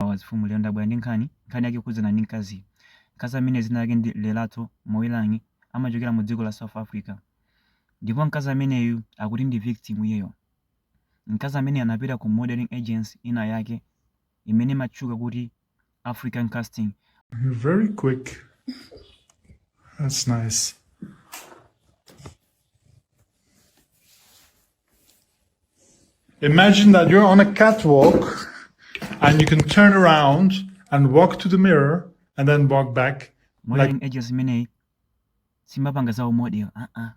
awa zifumu lero ndabwera ndi nkhani nkhani yake kukhudzana ndi mkaziyu mkazi amene dzina lake ndi Lerato Moilangi amachokera mu dziko la south africa ndipo mkazi ameneyu akuti ndi victim iyeyo mkazi amene anapita ku modeling agency ina yake imene imatchuka kuti african casting You're very quick. That's nice. Imagine that you're on a catwalk and you can turn around and walk to the mirror and then walk back. Modeling agency imeneyi simapanga za umodel aa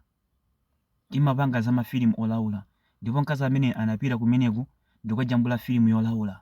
imapanga za mafilimu olaula ndipo mkazi ameneyi anapita kumeneku ndikukajambula filimu yolaula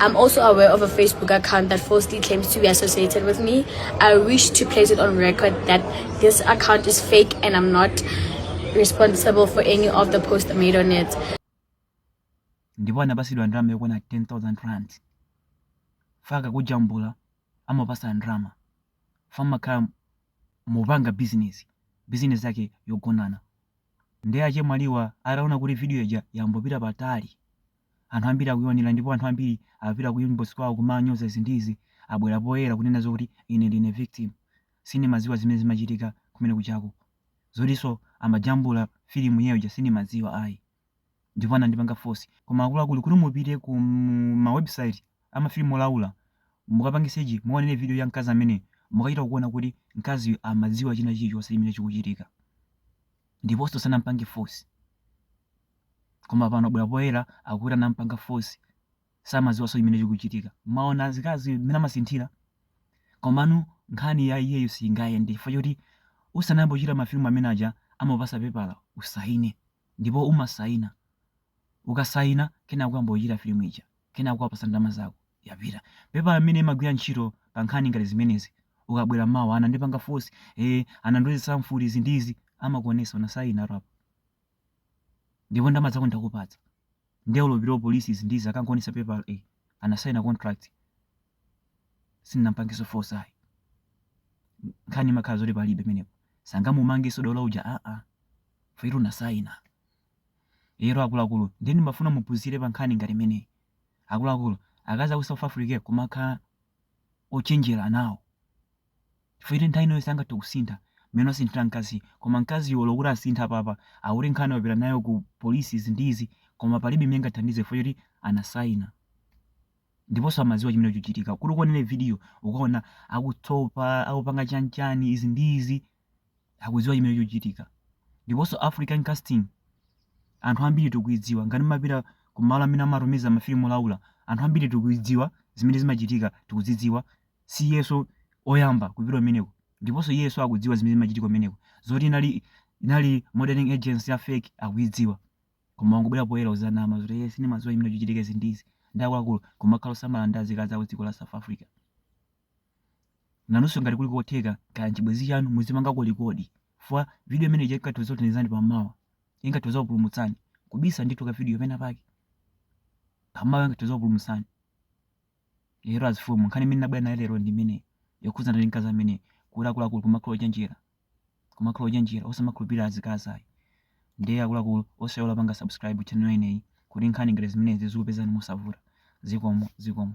I'm also aware of a Facebook account that falsely claims to be associated with me. I wish to place it on record that this account is fake and I'm not responsible for any of the posts made on it. ndipo anapasidwa ndalama yokwana 10000 rand chifukwa akakujambula amakupasa ndalama chifukwa mumakhala mukupanga bizinesi bizinesi yake yogonana ndiye achemwaliwa ataona kuti video ija yambopita patali Anthu ambiri akuionera ndipo anthu ambiri apita ku inbox kwawo kumanyoza izi ndi izi, abwera poyera kunena zokuti ine ndine victim. Sindimaziwa zimene zimachitika kumene kujako. Zotinso amajambula film iyeyo ija sindimaziwa ayi. Ndipo anandipanga force. Koma akuluakulu kuti mupite ku ma website a ma film olaula mukapange search mukaonere video ya mkazi ameneyu, mukachita kuona kuti mkaziyu amaziwa china chilichonse chimene chikuchitika. Ndiponso sanampange force. koma pano wabwera poyera akuti anampanga force samaziwaso chimene chikuchitika mwaona azikazi mmene amasinthira komanu nkhani ya iyeyo siyingayende chifukwa choti usanayambe kuchita mafilimu amene aja amakupasa pepala usaine ndipo umasaina ukasaina kenako kuyamba kuchita filimu ija kenako akupasa ndalama zako yapita pepala imene imagwira ntchito pa nkhani ngati zimenezi ukabwera mawa anandipanga force eh anandilozesa mfuti izi ndi izi amakuonesa unasaina apa ndipo ndalama zako tinakupatsa nde olo upite ku police izi ndi izi akangoonesa pepala e anasaina contract sitinampangeso force ayi nkhani imakhala zoti palibe menepo sangamumangiso dola uja aa chifukwa choti anasaina ero akuluakulu nde ndimafuna muphunzire pa nkhani ngati imeneyi akuluakulu akazi aku south africa kumakhala ochenjera nawo chifukwa choti nthawi ina yonse angathe kusintha mmene wasinthira mkaziyo koma mkaziyo olo kuti asinthe apapa akuti nkhani wapita nayo ku polisi izi ndi izi koma palibe imene ingathandize chifukwa choti anasaina ndiponso amaziwa chimene chikuchitika kuti ukuonere vidiyo ukaona akutsopa akupanga chanchani izi ndi izi akudziwa chimene chikuchitika ndiponso african casting anthu ambiri tikuidziwa ngati mumapita ku malo amene amatumiza mafilimu olaula anthu ambiri tikuidziwa zimene zimachitika tikuzidziwa si iyeso oyamba kupita kumeneko ndiponso iyeso akudziwa zimene zimachitika kumeneko zoti inali inali modeling agency ya fake akuidziwa koma wangobwera poyera kuzanama zoti iye sindimadziwa chimene chikuchitika izi ndi izi ndiye akuluakulu kumakhala osamala ndi azikazi a ku dziko la south africa Nanunso ngati kuli kotheka, kaya n'chibwenzi chanu, muzipangako rekodi chifukwa vidiyo imene ija ingathe kudzakuthandizani pammawa. Ingathe kudzakupulumutsani. Kubisa ndithu kavidiyo penapake pammawa ingathe kudzakupulumutsani. Lero azifumu, nkhani imene ndinabwera nayo lero ndi imeneyi yokhudzana ndi mkazi amene kuti akuluakulu kumakhala ochenjera kumakhala ochenjera osamakhulupirira azikazi ayi. Ndiye akuluakulu osayiwala kupanga subscribe channel inoyi kuti nkhani ngati zimenezi zizikupezani mosavuta. Zikomo, zikomo.